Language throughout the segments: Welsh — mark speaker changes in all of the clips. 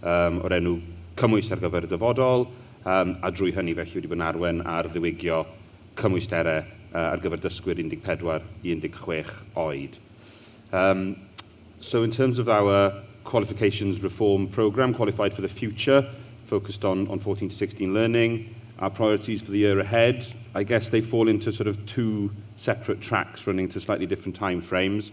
Speaker 1: o'r enw Cymwys ar gyfer y Dyfodol, a drwy hynny felly wedi bod yn arwain ar ddiwygio cymwysterau ar gyfer dysgwyr 14 i 16 oed. In terms of our qualifications reform programme, Qualified for the Future, focused on 14 to 16 learning, our priorities for the year ahead, I guess they fall into sort of two separate tracks running to slightly different time frames.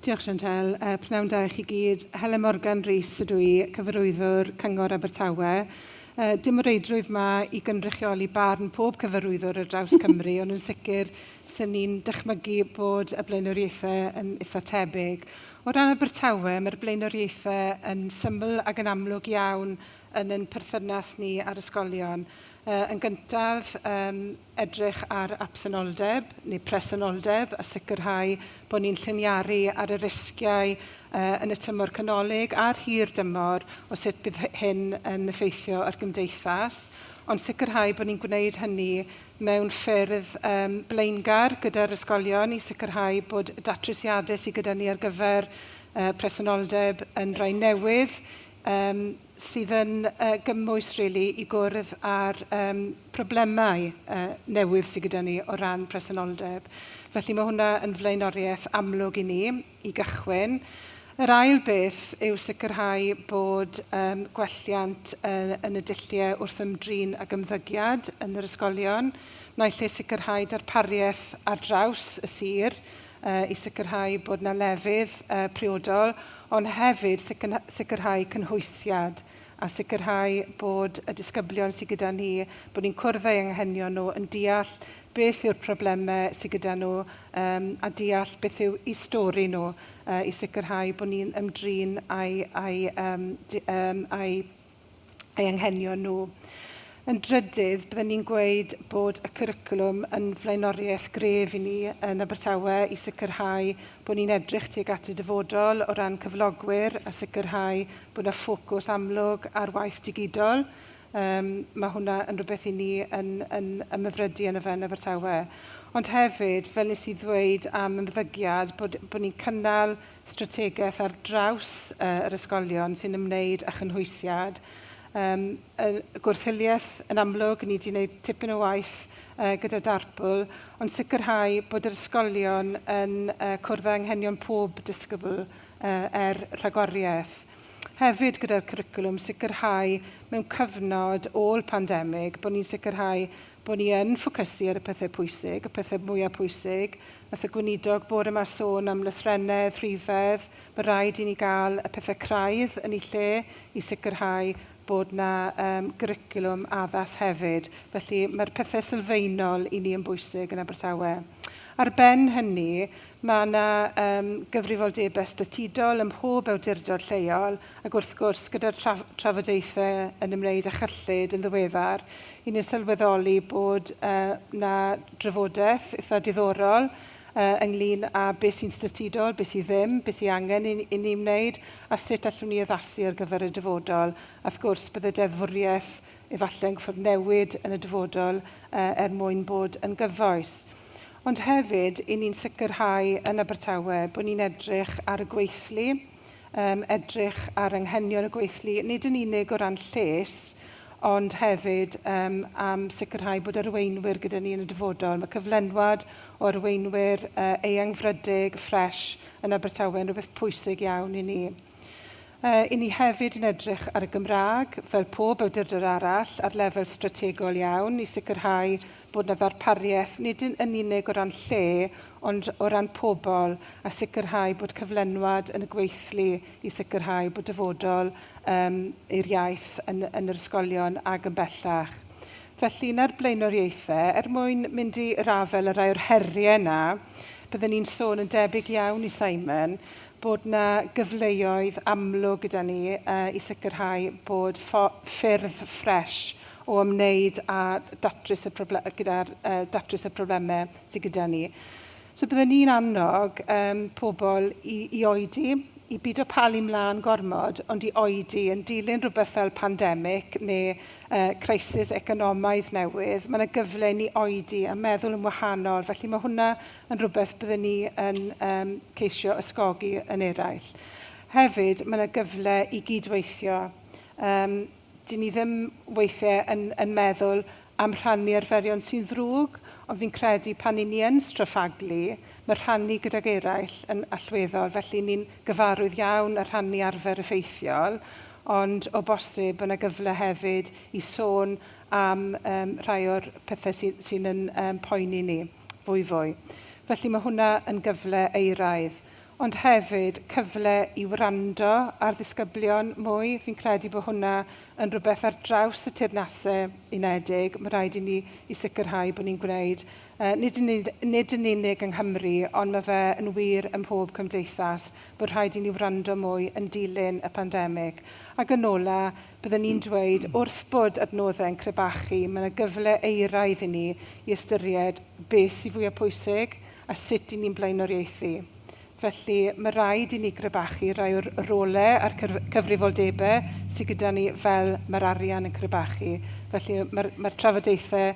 Speaker 2: Diolch Chantelle,
Speaker 3: a pnawn da i chi gyd. Helen Morgan Rees ydw i, Cyfarwyddwr Cyngor Abertawe. Yy dim o reidrwydd 'ma i gynrychioli barn pob cyfarwyddwr ar draws Cymru ond yn sicr 'sen ni'n dychmygu bod y blaenoriaethe yn itha' tebyg. O ran Abertawe mae'r blaenoriaethe yn syml ac yn amlwg iawn yn ein perthynas ni â'r ysgolion. Yy yn gyntaf yym edrych ar absenoldeb neu presenoldeb a sicrhau bod ni'n lliniaru ar y risgiau yn y tymor canolig a'r hir dymor o sut bydd hyn yn effeithio ar gymdeithas, ond sicrhau bod ni'n gwneud hynny mewn ffyrdd blaengar gyda'r ysgolion i sicrhau bod y datrysiadau sydd gyda ni ar gyfer presenoldeb yn rhai newydd, sydd yn gymwys rili i gwrdd â'r problemau newydd sydd gyda ni o ran presenoldeb. Felly mae hwnna yn flaenoriaeth amlwg i ni i gychwyn. Yr ail beth yw sicrhau bod gwelliant yn y dulliau wrth ymdrin ag ymddygiad yn yr ysgolion, naill ai sicrhau darpariaeth ar draws y sir i sicrhau bod yna lefydd priodol, ond hefyd sicrhau cynhwysiad a sicrhau bod y disgyblion sydd gyda ni, bod ni'n cwrdd â'u anghenion nhw, yn deall beth yw'r problemau sydd gyda nhw a deall beth yw'u stori nhw i sicrhau bod ni'n ymdrin â'u ei anghenion nhw. Yn drydydd, byddwn ni'n gweud bod y cwricwlwm yn flaenoriaeth gref i ni yn Abertawe i sicrhau bod ni'n edrych tuag at y dyfodol o ran cyflogwyr a sicrhau bod yna ffocws amlwg ar waith digidol. Um, mae hwnna yn rhywbeth i ni yn, yn ymhyfrydu yn y fe yn Abertawe. Ond hefyd, fel nes i ddweud am ymddygiad, bod, bod ni'n cynnal strategaeth ar draws yr ysgolion sy'n ymwneud â chynhwysiad. Yym, y gwrthiliaeth, yn amlwg, ni 'di wneud tipyn o waith yy gyda Darpl, ond sicrhau bod yr ysgolion yn yy cwrdd â anghenion pob disgybl yy er rhagoriaeth. Hefyd, gyda'r cwricwlwm, sicrhau mewn cyfnod ôl pandemig bod ni'n sicrhau Bod ni yn ffocysu ar y pethau pwysig, y pethau mwyaf pwysig. Wnaeth y Gweinidog bore 'ma sôn am lythrennedd, rhifedd. Mae'n rhaid i ni gael y pethau craidd yn eu lle i sicrhau bod yna yym gwricwlwm addas hefyd. Felly, mae'r pethau sylfaenol i ni yn bwysig yn Abertawe. Ar ben hynny, mae yna yym gyfrifoldebau statudol ym mhob awdurdod lleol, Ac wrth gwrs, gyda'r trafodaethau yn ymwneud â chyllid yn ddiweddar, i ni'n sylweddoli bod yna drafodaeth eitha' diddorol ynglyn â beth sy'n statudol, beth sydd ddim, beth sydd angen i ni wneud, a sut allwn ni addasu ar gyfer y dyfodol. A wrth gwrs, bydd y deddfwriaeth efallai'n gorfod newid yn y dyfodol er mwyn bod yn gyfoes. Ond hefyd, i ni'n sicrhau yn Abertawe bod ni'n edrych ar y gweithlu, um, edrych ar anghenion y gweithlu, nid yn unig o ran lles, ond hefyd um, am sicrhau bod arweinwyr gyda ni yn y dyfodol. Mae cyflenwad o arweinwyr uh, eangfrydig, ffres yn Abertawe yn rhywbeth pwysig iawn i ni. Uh, I ni hefyd yn edrych ar y Gymraeg, fel pob awdurdod arall, ar lefel strategol iawn i sicrhau bod 'na ddarpariaeth, nid yn unig o ran lle, ond o ran pobl, a sicrhau bod cyflenwad yn y gweithlu i sicrhau bod dyfodol yym i'r iaith yn yn yr ysgolion ac yn bellach. Felly, un o'r blaenoriaethau, er mwyn mynd i rafel y rai o'r heriau yna, bydden ni'n sôn yn debyg iawn i Simon, bod 'na gyfleoedd amlwg gyda ni yy i sicrhau bod ffyrdd ffres o ymwneud â datrys y problem- gyda'r yy datrys y problemau sy gyda ni. So bydden ni'n annog yym pobl i i oedi, i bido palu mlân gormod, ond i oedi yn dilyn rhywbeth fel pandemig neu yy crisis economaidd newydd, ma' 'na gyfle i ni oedi a meddwl yn wahanol, felly ma' hwnna yn rhywbeth bydden ni yn yym ceisio ysgogi yn eraill. Hefyd, ma' 'na gyfle i gyd-weithio. Yym. Dyn ni ddim weithiau yn yn meddwl am rhannu arferion sy'n ddrwg, ond fi'n credu pan y'n ni yn straffaglu, mae rhannu gydag eraill yn allweddol, felly ni'n gyfarwydd iawn â rhannu arfer effeithiol, ond o bosib bod 'na gyfle hefyd i sôn am yym rhai o'r pethe sy sy'n yn yym poeni ni fwyfwy. Felly ma' hwnna yn gyfle euraidd. ond hefyd cyfle i wrando ar ddisgyblion mwy, fi'n credu bod hwnna yn rhywbeth ar draws y Teyrnasau Unedig, mae rhaid i ni i sicrhau bod ni'n gwneud, nid yn unig, nid yn unig yng Nghymru, ond mae fe yn wir ym mhob cymdeithas, bod rhaid i ni wrando mwy yn dilyn y pandemig. Ac yn ola, bydden i'n dweud, wrth bod adnoddau'n crebachu, mae yna gyfle euraidd i ni i ystyried beth sydd fwya' pwysig, a sut i ni'n blaenoriaethu. Felly, mae rhaid i ni grebachu rhai o'r rolau a'r cyfrifoldebau sydd gyda ni fel mae'r arian yn crebachu. Felly, mae'r mae'r trafodaethau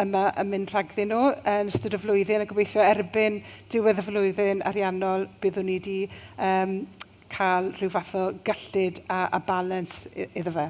Speaker 3: yma yn mynd rhagddyn nhw yn ystod y flwyddyn a gobeithio erbyn diwedd y flwyddyn ariannol byddwn ni wedi um, cael rhyw fath o gyllid a, a balans iddo fe.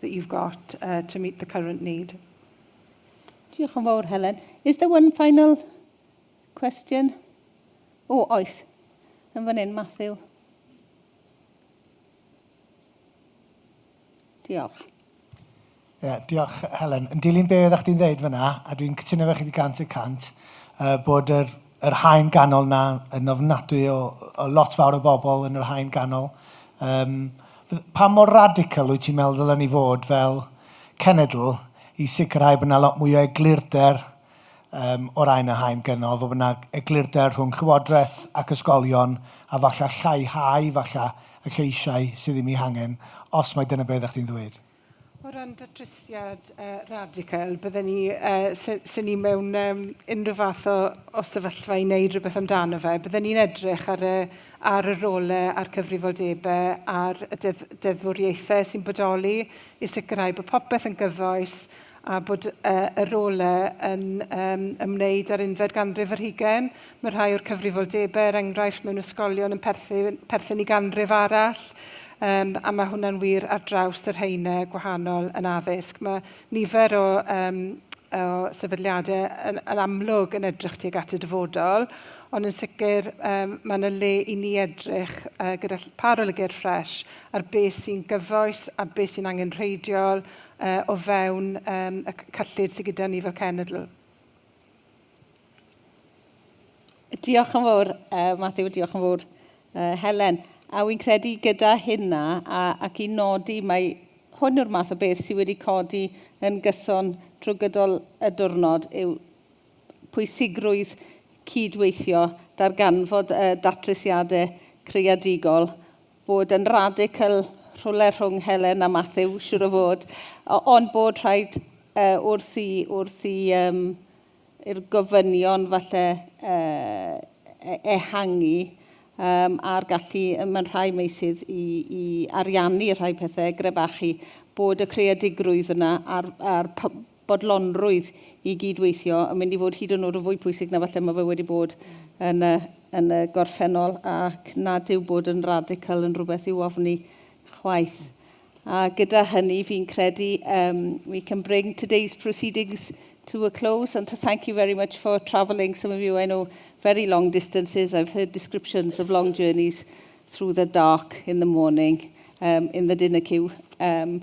Speaker 3: that you've got uh, to meet the current need.
Speaker 4: Diolch yn fawr, Helen. Is there one final question? O, oh, oes. Yn fan hyn, Matthew. Diolch. Yeah,
Speaker 5: diolch, Helen. Yn dilyn be oeddech chdi'n dweud fyna, a dwi'n cytuno fe chi wedi gant y cant, uh, bod yr yr haen ganol 'na yn ofnadwy o o lot fawr o bobl yn yr haen ganol. Yym f- pa mor radical wyt ti'n meddwl ddylen ni fod fel cenedl i sicrhau bod 'na lot mwy o eglurder yym o ran y haen gynol, fod 'na eglurder rhwng llywodraeth ac ysgolion a falle lleihau falle y lleisiau sydd ddim 'u hangen os mai dyna be' oeddach chdi'n ddweud? O ran
Speaker 3: datrysiad radical, bydden ni, se ni mewn unrhyw fath o sefyllfa i wneud rhywbeth amdano fe, bydden ni'n edrych ar y rôle a'r cyfrifoldebe ar y deddfwriaethau sy'n bodoli i sicrhau bod popeth yn gyfoes a bod y rôl yn ymwneud â'r unfed ganrif ar hugain. Mae rhai o'r cyfrifoldebau, er enghraifft, mewn ysgolion yn perthyn i ganrif arall, a mae hwnna'n wir ar draws yr haenau gwahanol yn addysg. Mae nifer o sefydliadau yn amlwg yn edrych tuag at y dyfodol, ond yn sicr mae yna le i ni edrych gyda pharolygiad ffres ar beth sy'n gyfoes a beth sy'n angenrheidiol o fewn y cyllid sydd gyda ni fel cenedl.
Speaker 4: Diolch yn fawr, Matthew, a diolch yn fawr, Helen. A wi'n credu gyda hynna, ac i nodi, mae hwn yw'r math o beth sydd wedi codi yn gyson drwy gydol y diwrnod, yw pwysigrwydd cyd-weithio, darganfod y datrysiadau creadigol bod yn radical rhywle rhwng Helen a Matthew, siwr o fod, ond bod rhaid uh, wrth i, wrth i um, i'r gofynion falle uh, e-, ehangu um, a'r gallu mewn rhai meisydd i, i ariannu rhai pethau, grebachu, bod y creadigrwydd yna a'r, a'r bodlonrwydd i gyd-weithio yn mynd i fod hyd yn oed yn fwy pwysig na falle mae fe wedi bod yn y, yn y gorffennol, ac nad yw bod yn radical yn rhywbeth i'w ofni chwaith. A gyda hynny, fi'n credu um, we can bring today's proceedings to a close and to thank you very much for travelling. Some of you I know very long distances. I've heard descriptions of long journeys through the dark in the morning, um, in the dinner queue. Um,